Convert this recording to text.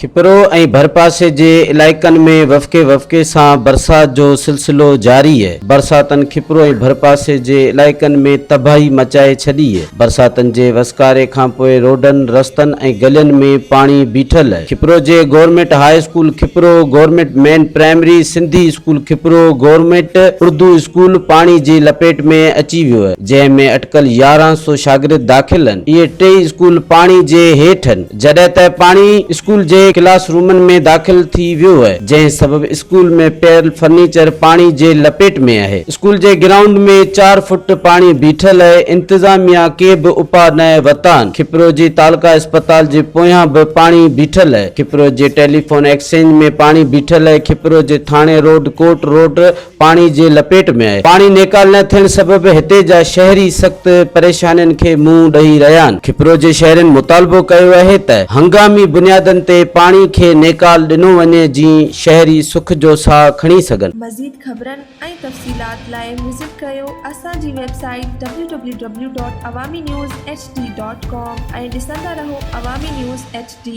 کپرو ۽ ڀرپاسي جي علائقن ۾ وڦڪي وڦڪي سان برسات جو سلسلو جاري برساتن کپرو ۽ ڀرپاسي جي علائقن ۾ تباهي مچائي ڇڏي برساتن جي وسڪاري کانپوء روڊن رستن ۽ گلين ۾ پاڻي بيٺل کپرو جي government high school Khipro government main primary Sindhi school Khipro government Urdu school پاڻي جي لپيٽ ۾ اچي ويو جنهن ۾ اٽڪل يارهن سو شاگرد داخل هن. اهي ٽئي اسڪول پاڻي جي هيٺ هن. جڏهن ته پاڻي اسڪول جي ڪلاس رومن ۾ داخل ٿي ويو هي جنهن سبب اسڪول ۾ پيل فرنيچر پاڻي جي لپيٽ ۾ آهي. اسڪول جي گرائونڊ ۾ چار فوٽ پاڻي بيٺل هي انتظاميا ڪي به اپاء نه ورتا هن. کپرو جي تعلقه اسپتال جي پويان به پاڻي بيٺل هي. کپرو جي ٽيليفون ايڪسچينج ۾ پاڻي بيٺل هي. کپرو جي ٿاڻي روڊ، ڪورٽ روڊ، پاڻي جي لپيٽ ۾ آهي، پاڻي نيڪال نه ٿيڻ سبب هتي جا شهري سخت پريشانين کي منهن ڏئي رهيا آهن، کپرو جي شهرين مطالبو ڪيو آهي ته هنگامي بنيادن تي پاڻي کي نيڪال ڏنو وڃي جين شهري سک جو ساهه کڻي سگهن. مزيد خبرن ۽ تفصيلات لاء وزٽ ڪريو اسان جي website W W W dot Awami news H D dot com ۽ ڏسندا رهو عوامي نيوز ايڇ ڊي.